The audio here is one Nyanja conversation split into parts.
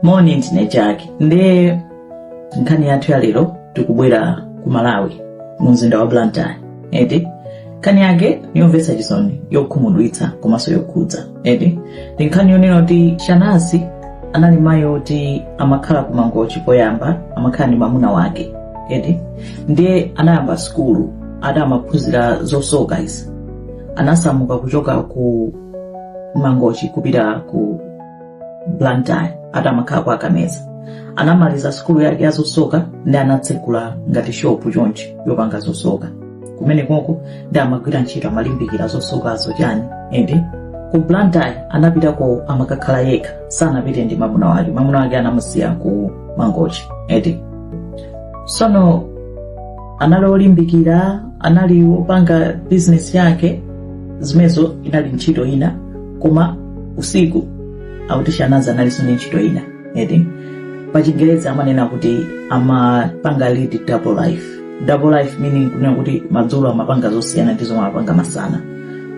moni ndine jack ndiye nkhani yathu ya lero tikubwera ku malawi mu mzinda wa blantyre eti nkhani yake ndi yomvetsa chisoni yokhumudwitsa komanso yokhudza eti ndiye nkhani yonena kuti shanazi anali mayi oti amakhala ku mangochi poyamba amakhala ndi mamuna wake eti ndiye anayamba sukulu ati amaphunzira zosoka izi anasamuka kuchoka ku mangochi kupita ku blantyre ati amakhala kwa kameza anamaliza sukulu yake ya zosoka ndiye anatsekula ngati shopu chonchi yopanga zosoka kumene konko nde amagwira ntchito amalimbikira zosokazo chani ende ku blantyre anapitako amakakhala yekha sanapite ndi mamuna wake mamuna wake anamusiya ku mangochi ende sono anali olimbikira anali opanga bizinesi yake zimenezo inali ntchito ina koma usiku akuti shanazi analinso ndi ntchito ina eti pachingerezi amanena kuti amapanga lead double life double life meaning kunena kuti madzulo amapanga zosiyana ndi zomwe amapanga masana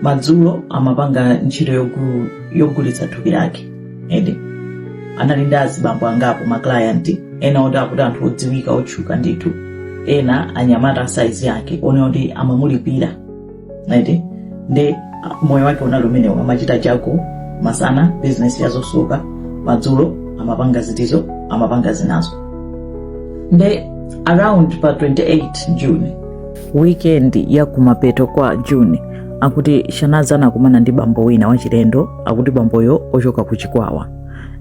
madzulo amapanga ntchito yogulitsa thupi lake eti anali ndi azibambo angapo ma client ena oti akuti anthu odziwika otchuka ndithu ena anyamata a size yake onena kuti amamulipira right nde ah, moyo wake unali umenewo amachita chako masana bizinesi yazosoka madzulo amapanga zitizo amapanga zinazo nde around pa 28 june weekend ya kumapeto kwa june akuti shanazi anakumana ndi bambo wina wachilendo akuti bamboyo ochoka ku chikwawa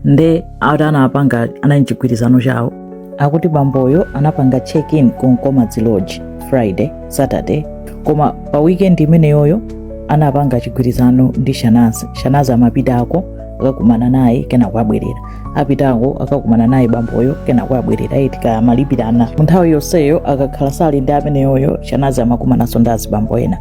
nde ati anapanga anali m'chigwirizano chawo akuti bamboyo anapanga check-in ku Nkomadzi Lodge Friday, Saturday koma pa weekend imeneyoyo anapanga chigwirizano ndi Shanazi. Shanazi amapitako akakumana naye kenako abwerera apitako akakumana naye bamboyo kenako abwerera eti kumalipirana mu nthawi yonseyo akakhala sali ndi ameneyoyo Shanazi amakumananso ndi azibambo ena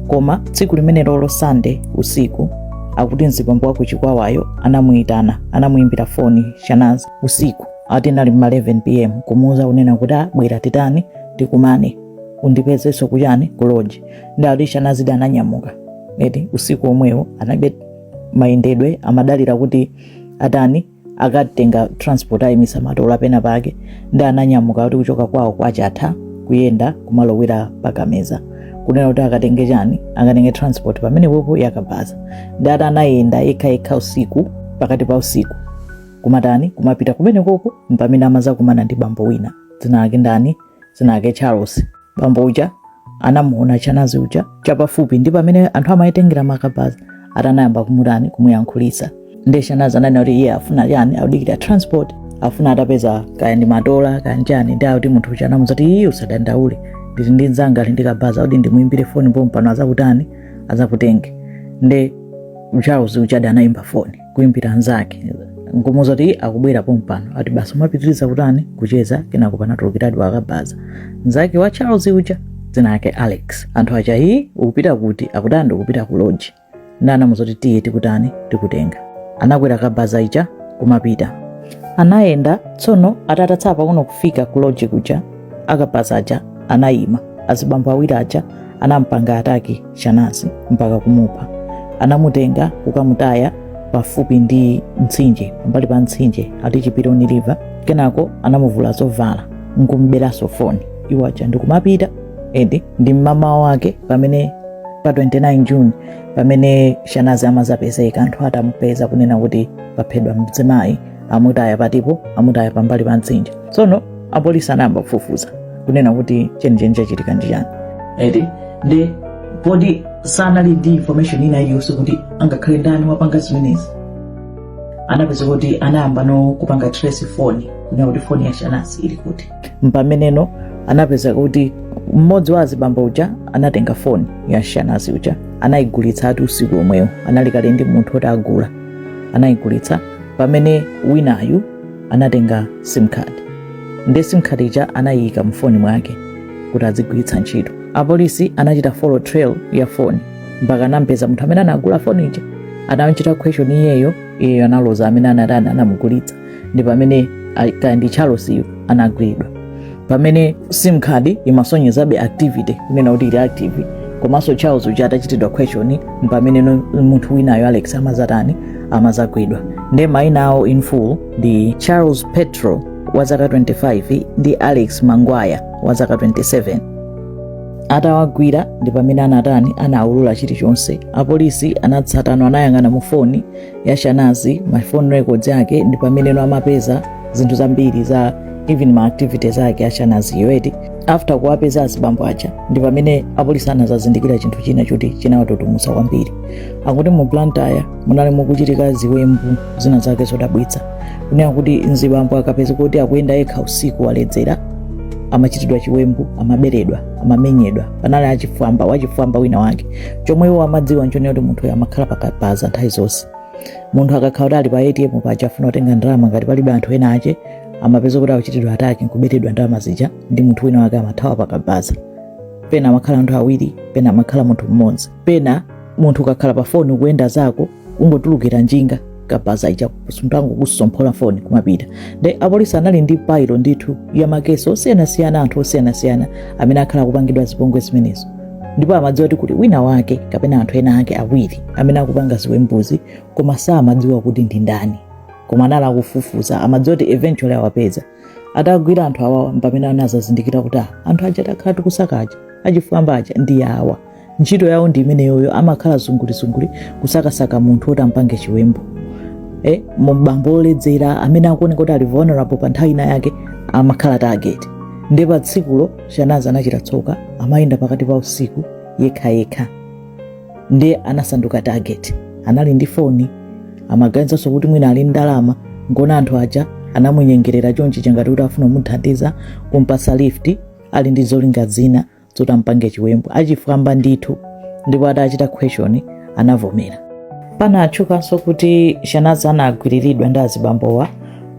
koma tsiku limene lolo Sunday usiku akuti mzibambo wa ku Chikwawayo anamuyitana anamuyimbira foni Shanazi usiku ati anali mma 11 pm kumuuza kunena kuti bwera titani tikumane undipezeso kuchani ku lodge nde shanazidi ananyamuka eti usiku omwewo analibe mayendedwe amadalira kuti atani akatenga transport ayimisa matola pena pake nde ananyamuka kuti kuchoka kwawo kwachatha kuyenda kumalowera pakameza kunena kuti akatenge chani akatenge transport pamenepopo yakabaza nde ati anayenda yekhayekha usiku pakati pa usiku kumatani kumapita kumenekoko mpamene amazakumana ndi bambo wina dzina lake ndani dzina lake charles bambo uja anamuona shanazi uja chapafupi ndi pamene anthu amayitengera makabaza ati anayamba kumutani kumuyankhulisa nde shanazi ananena kuti iye afuna chani akudikira transport afuna atapeza kaya ndi matola kaya nchani ndi akuti munthu uja anamuza kuti iye usadandaule ndili ndi mzanga ali ndi kabaza akuti ndimuimbire foni pompano azakutani azakutenge nde charles uja anayimba foni kuimbira nzake nkumuza kuti akubwera pompano ati basi umapitiriza kutani kucheza kenako panatulukiradi wakabaza nzake wa charles uja dzina lake alex anthu aja iyi ukupita kuti akuti ndikupita ku loji ndi anamuza kuti tiye tikutani tikutenga anakwera kabaza ija kumapita anayenda tsono atatsala pang'ono kufika ku loji kuja akabaza aja anayima azibambo awiri aja anampanga ataki Shanazi mpaka kumupha. Anamutenga kukamutaya pafupi ndi mtsinje, pambali pa mtsinje ati Chipironi River. Kenako anamuvula zovala nkumuberaso foni iwo aja ndikumapita and ndi mmamawa wake pamene pa 29 June pamene Shanazi amazapezeka anthu atamupeza kunena kuti paphedwa mzimayi amutaya patipo amutaya pambali pa mtsinje tsono apolisi anayamba kufufuza kunena kuti chenicheni chachitika ndi chani eti ndi poti sanali ndi information ina iliyonse kuti angakhale ndani wapanga zimenezi anapeza kuti anayamba no kupanga trace foni kunena kuti foni ya shanazi ili kuti mpameneno anapeza kuti mmodzi wa azibambo uja anatenga foni ya shanazi uja anayigulitsa ati usiku omwewo anali kale ndi munthu oti agula anayigulitsa pamene winayu anatenga sim card ndi sim card ija anayiyika mu foni mwake kuti azigwiritsa ntchito apolisi anachita follow trail ya foni mpaka anampeza munthu amene anagula foni ija anamchita question iyeyo iyeyo analoza amene anatani anamugulitsa ndi pamene a- kandi charles uyo anagwidwa pamene sim card imasonyezabe activity kunena kuti ili active komanso charles uja atachitidwa question mpamene no- munthu winayo alex amazatani amazagwidwa nde maina awo in full ndi charles petro wa zaka 25 ndi alex mangwaya wa zaka 27 atawagwira ndi pamene anatani anaulula chilichonse apolisi anatsatano anayang'ana mu foni ya Shanazi ma phone records yake ndi pameneno amapeza zinthu zambiri za even ma activities ake a Shanaziyo eti after kuwapeza azibambo aja ndi pamene apolisi anazazindikira chinthu china choti chinawatutumutsa kwambiri akuti mu Blantyre munali mukuchitika ziwembu zina zake zodabwitsa kunena kuti mzibambo akapezeka kuti akuyenda yekha usiku waledzera amachitidwa chiwembu amaberedwa amamenyedwa panali achifwamba wachifwamba wina wake chomwe iwo amadziwa nchonena kuti munthu amakhala pakabaza nthawi zonse munthu akakhala kuti ali pa atm paja afuna kutenga ndalama ngati palibe anthu ena ache amapeza kuti akuchitidwa ataki nkuberedwa ndalama zija ndi munthu wina wake amathawa pakabaza pena amakhala anthu awiri pena amakhala munthu mmodzi pena munthu ukakhala pa foni ukuyenda zako ungotulukira njinga kabaza ija suntango kusomphola foni kumapita nde apolisi anali ndi pailo ndithu ya makesi osiyanasiyana anthu osiyanasiyana amene akhala akupangidwa zipongwe zimenezo ndipo amadziwa kuti kuli wina wake kapena anthu ena ake awiri amene akupanga ziwembuzi koma samadziwa kuti ndi ndani koma anali akufufuza amadziwa kuti eventually awapeza atagwira anthu awawa mpamene anadzazindikira kuti ah, anthu aja takhala tikusaka aja achifwamba aja ndi awa ntchito yawo ndi imeneyoyo amakhala zungulizunguli kusakasaka munthu woti ampange chiwembu eh, mbambo oledzera amene akuoneka kuti ali vulnerable pa nthawi ina yake amakhala target nde pa tsikulo shanazi anachita tsoka amayenda pakati pa usiku yekhayekha ndiye anasanduka target anali ndi foni amaganizanso kuti mwina ali ndalama nkona anthu aja anamunyengerera chonchi changati kuti afuna kumuthandiza kumpasa lift ali ndi zolinga zina zoti ampange chiwembu achifwamba ndithu ndipo atachitidwa question anavomera pana atchukanso kuti shanazi anagwiriridwa ndi azibambowa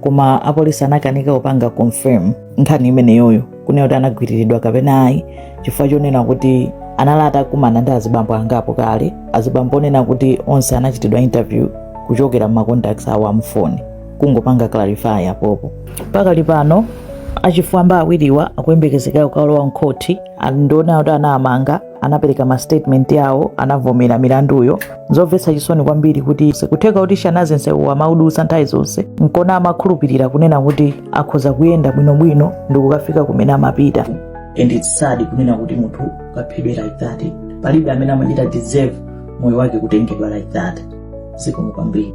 koma apolisi anakanika kupanga confirm nkhani imeneyoyo kunena kuti anagwiriridwa kapena ayi chifukwa chonena kuti anali atakumana ndi azibambo angapo kale azibambo onena kuti onse anachitidwa interview kuchokera mmacontacts awo amfoni kungopanga clarify apopo pakali pano achifwamba awiriwa akuyembekezeka kukalowa mkhoti ndionera kuti anawamanga anapereka mastatement awo anavomera milanduyo zomvetsa chisoni kwambiri kuti kutheka kuti shanazi nsewu amaudutsa nthawi zonse nkona amakhulupirira kunena kuti akhoza kuyenda bwinobwino ndi kukafika kumene amapita and it's sad kunena kuti munthu ukaphedwe like that palibe amene amachita deserve moyo wake kutengedwa like that zikomo kwambiri